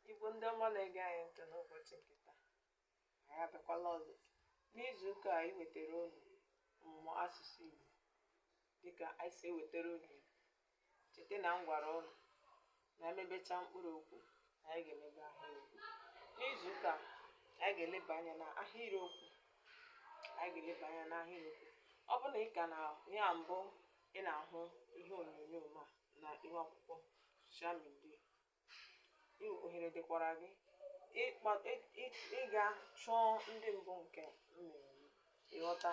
Igbo ndị ọma na-ege anyị ntị n'ụbọchị nke taa anyị abịakwala ọzọ n'izu ụka a iwetara unu ọmụmụ asụsụ Igbo dịka anyị si ewetara unu Igbo cheta na m gwara unu na emebecha mkpụrụ okwu na anyị ga-emebe ahịrịokwu n'izu ụka a, anyị ga-eleba anya na ahịrịokwu anyị ga-eleba anya na ahịrịokwu ọ bụrụ na ị ka na ya mbụ ị na-ahụ ihe onyonyo ma na ihu akwụkwọ social media ohere dịkwara gị ịga chọọ ndị mbụ nke mmemme ịghọta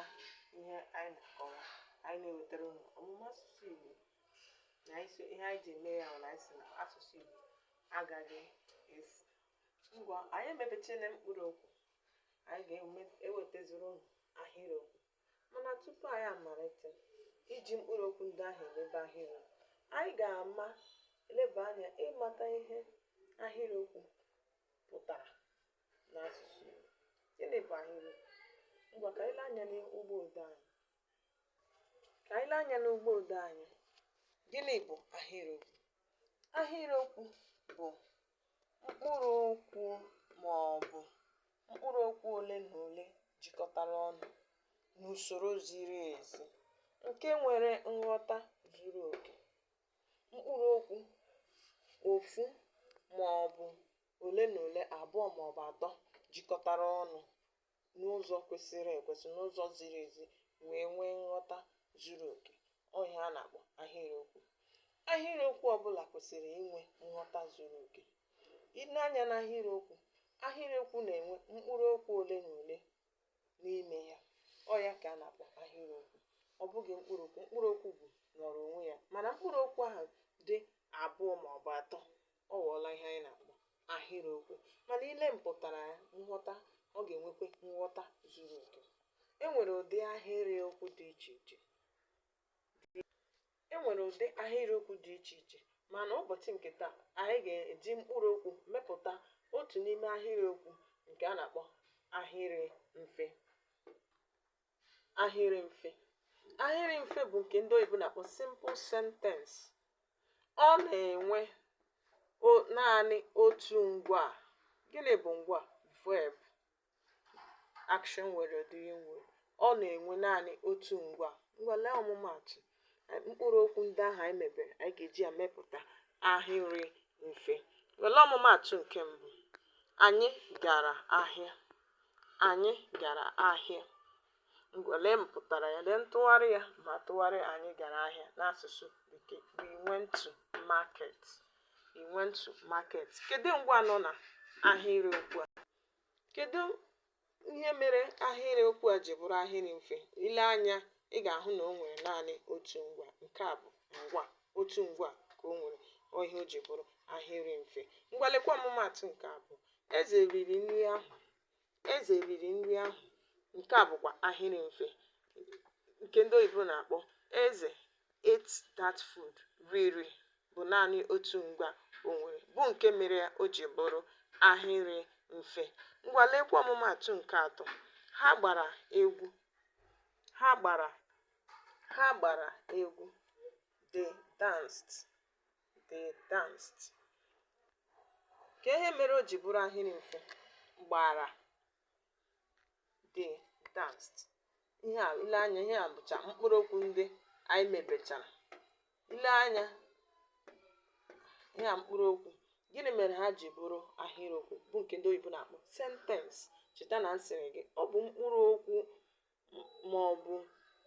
ihe anyị na-akọwa anyị na-ewetara unu ọmụmụ asụsụ Igbo na ihe anyị ji eme ya na anyị sị na asụsụ Igbo agaghị efu ngwa anyị emebechaala mkpụrụ okwu anyị ga-ewetaziri unu ahịrịokwu Mana tupu anyị amalite iji mkpụrụ okwu ndị ahụ emebe ahịrịokwu, anyị ga-ama eleba anya ịmata ihe ahịrịokwu pụtara n'asụsụ Igbo. Gịnị bụ ahịrịokwu? Ngwa ka anyị lee anya n'ụgbọ odee anyị. Ka anyị lee anya n'ụgbọ odee anyị. Gịnị bụ ahịrịokwu? Ahịrịokwu bụ Mkpụrụ okwu maọbụ mkpụrụ okwu ole na ole jikọtara ọnụ n'usoro ziri ezi nke nwere nghọta zuru oke. Mkpụrụ okwu ofu maọbụ ole na ole, abụọ maọbụ atọ jikọtara ọnụ n'ụzọ kwesịrị ekwesị n'ụzọ ziri ezi wee nwee nghọta zuru oke ọ ihe a na-akpọ ahịrịokwu ahịrịokwu ọbụla kwesịrị inwe nghọta zuru oke i nee anya n'ahịrịokwu ahịrịokwu na-enwe mkpụrụ okwu ole na ole n'ime ya ọ ya ka a na-akpọ ahịrịokwu ọ bụghị mkpụrụ okwu mkpụrụ okwu bụ nọrọ onwe ya mana mkpụrụ okwu ahụ dị abụọ ma ọ bụ atọ Ọ ghọọla ihe anyị na-akpọ ahịrịokwu mana i lee mpụtara ya, nghọta, ọ ga-enwekwa nghọta zuru oke. E nwere ụdị ahịrịokwu dị iche iche mana ụbọchị nke taa anyị ga-eji mkpụrụ okwu mepụta otu n'ime ahịrịokwu nke a na-akpọ ahịrị mfe. ahịrị mfe ahịrị mfe bụ nke ndị oyibo na-akpọ simple sentence ọ na-enwe o- naanị otu ngwa. gịnị bụ ngwa verb action word doing word ọ na-enwe naanị otu ngwa ngwa lee ọmụmaatụ mkpụrụ okwu ndị ahụ anyị mebere anyị ga-eji ya mepụta ahịrị mfe were ọmụmaatụ nke mbụ anyị gara ahịa anyị gara ahịa ngwa lee mpụtara ya lee ntụgharị ya ma tụgharịa anyị gara ahịa n'asụsụ bekee we went to market we went to market kedu ngwa nọ na ahịrị okwu a kedu ihe mere ahịrị okwu a ji bụrụ ahịrị mfe i lee anya ị ga-ahụ na o nwere naanị otu ngwa nke a bụ ngwa otu ngwa ka o nwere ihe o ji bụrụ ahịrị mfe ngwa leekwa ọmụmaatụ nke abụọ eze riri nri ahụ eze riri nri ahụ nke a bụkwa ahịrị mfe nke ndị oyibo na-akpọ eze ate that food. Riri bụ naanị otu ngwa o nwere, bụ nke mere ya o ji bụrụ ahịrị mfe. Ngwa leekwa ọmụmaatụ nke atọ. Ha gbara egwu. Ha gbara ha gbara egwu. They danced. They danced. Kee ihe mere o ji bụrụ ahịrị mfe gbara they danced ihe a i lee anya ihe a bụcha mkpụrụ okwu ndị anyị mebechara i lee anya ihe a mkpụrụ okwu gịnị mere ha ji bụrụ ahịrịokwu bụ nke ndị oyibo na-akpọ sentence cheta na m sịrị gị ọ bụ mkpụrụ okwu ma ọ bụ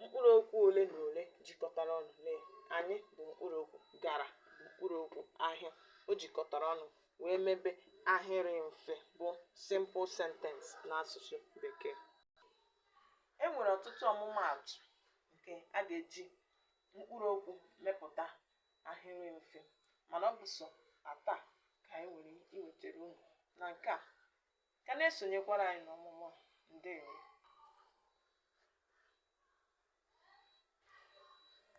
mkpụrụ okwu ole na ole jikọtara ọnụ nee anyị bụ mkpụrụ okwu gara bụ mkpụrụ okwu ahịa o jikọtara ọnụ wee mebe ahịrị mfe bụ simple sentence n'asụsụ bekee e nwere ọtụtụ ọmụmaatụ nke a ga-eji mkpụrụ okwu mepụta ahịrị mfe mana ọ bụ sọ atọ a ka anyị nwere iwetara unu na nke a ka na-esonyekwara anyị n'ọmụmụ a ndewo